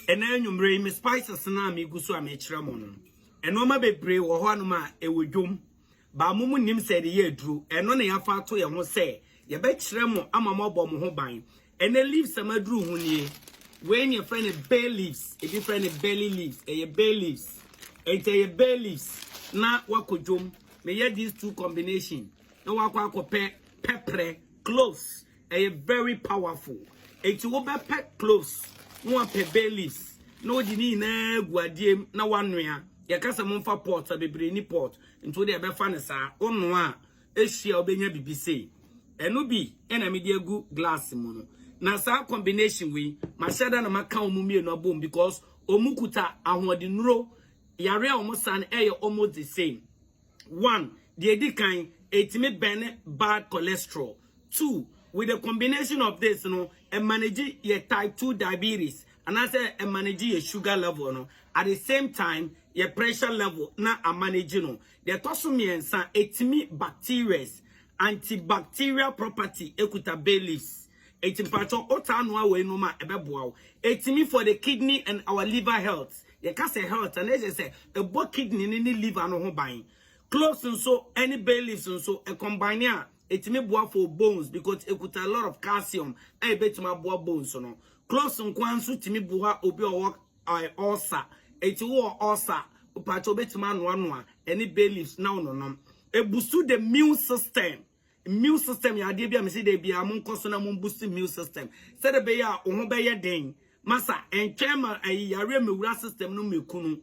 ɛna anwummerɛ yi me spices no a megu so a mekyerɛ mo no nneɛma bebree wɔ hɔ anom a ɛwɔ dwom baa mo mu nim sɛ ɛde yɛ aduro ɛno na yɛafa ato yɛn ho sɛ yɛbɛkyerɛ mo ama mo abɔ mo ho ban ɛnɛ leaves a maduru ho nie wei ne yɛfrɛ no bay leaves ebi frɛ no belly leaves ɛyɛ bay leaves ɛnti ɛyɛ bay leaves na wakɔ dwom meyɛ these two combination na wakɔ akɔpɛ pɛprɛ cloves Ɛyɛ very powerful enti wobɛpɛ cloves na wapɛ bay leaves na wode ne nyinaa agu adeɛ mu na wanoa. Yɛka sɛ momfa pot a bebree nni pot nti wode ɛbɛfa no saa. Wonoa a ɛhye a wobɛnya biribi sei. Ɛno bi na mede agu glass mu no. Na saa combination wei mahyɛ da na maka wɔn mmienu abom because wɔkuta ahoɔdennuro yare a wɔsan ɛyɛ almost the same. One, deɛ ɛdi kan, ɛtumi bɛne bad cholesterol. Two, with the combination of this no, ɛmanage yɛ type two diabetes anaasɛ ɛmanage yɛ sugar level no, at the same time yɛ pressure level na amanage no. Deɛ ɛtɔ so mmiɛnsa, ɛtumi bacterias, antibacterial property ɛkuta bay leaves. Ɛnti mpakyɛw, wotaa noa weinom a ɛbɛboa wo. Ɛtumi for the kidney and our liver health, Yɛka sɛ health a, na ɛkyerɛ sɛ ɛbɔ kidney no ne liver no ho ban. Cloves nso ne bay leaves nso, ɛcombine a, ɛtumi boa for bones because ɛkuta a lot of calcium a ɛbɛtumi aboa bones no. Cloves nko ara nso tumi boa obi a ɔwɔ ɛɛ ulcer. Enti wowɔ ulcer a, mpakyɛ wobɛtumi anoanoa ɛne bay leaves na wononom. Ɛboost the immune system. Immune system yɛ adeɛ bi a mese da biara monkɔ so na mo boost immune system. Sɛdeɛ bɛyɛ a wo ho bɛyɛ den. Masa, ɛntwɛn ma ayi yareɛ mmɛwura system no mmɛku no.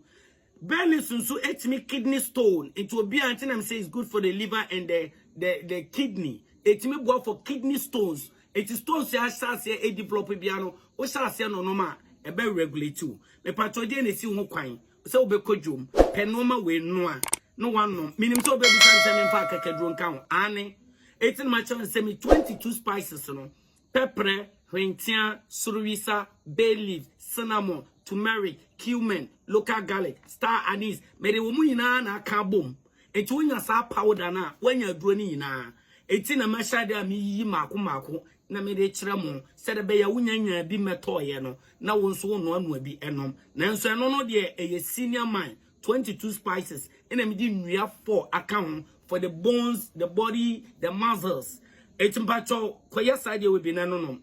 Bernice nso ɛtumi kidney stone. Nti obiara nti na mese it's good for the liver and the, the, the kidney. Ɛtumi boa for kidney stones. Nti stones yɛ ahyɛ aseɛ ɛdevelop biara no, wohyɛ aseɛ nonom a, ɛbɛ regulate wo. Mepatɔ deɛ na ɛsi ho kwan. sɛ wobɛkɔ dwom, pɛ nnoɔma wei noa na woanom. Menim sɛ wobɛbisa me sɛ memfa akakaduro nka ho. Aane, enti na makyerɛ no sɛ me 22 spices no, pɛprɛ, hwenteaa, sorowisa, bay leaf, cinnamon, turmeric, cumin, local garlic, star anise, mede wɔn nyinaa na aka abom. Enti wonya saa powder no a, woanya aduro no nyinaa. Enti na mahyɛ adeɛ a meyiyi mmaako mmaako na mede rekyerɛ mo sɛdeɛ ɛbɛyɛ a wonya nyaa bi mmɛtɔeɛ no na wo nso wonoanoa bi nom nanso ɛno no deɛ ɛyɛ senior mine 22 spices ɛna mede nnua fɔ aka ho for the bones the body the muscles ɛti mpakyɛw kɔyɛ saa deɛ wɔ bi na ɛno nom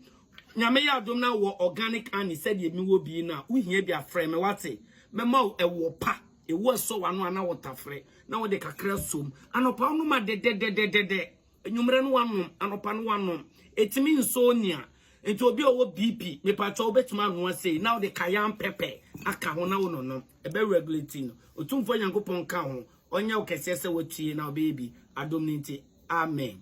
nyame yɛ adom na wɔ organic honey sɛdeɛ mi wɔ bi na wohia bi afrɛ me wate mɛma wo ɛwɔ pa ɛwɔ ɛsɔ wano ana wɔtafrɛ na wɔde kakra som anɔpa wonom a dɛdɛdɛdɛdɛ Enyimrɛ no wanom, anɔpa no wanom. Etumi nsɔ onyi a. Ntsi obi a ɔwɔ BP, mepakyɛw wobɛtumi anoa sei na wode cayenne pepper aka ho na wononom. Ɛbɛ regulate no. Otumfoɔ Nyankopɔn nka ho. Ɔnyɛ wo kɛseɛ sɛ woatue na wobɛyɛ bi. Adom no nti. Amen.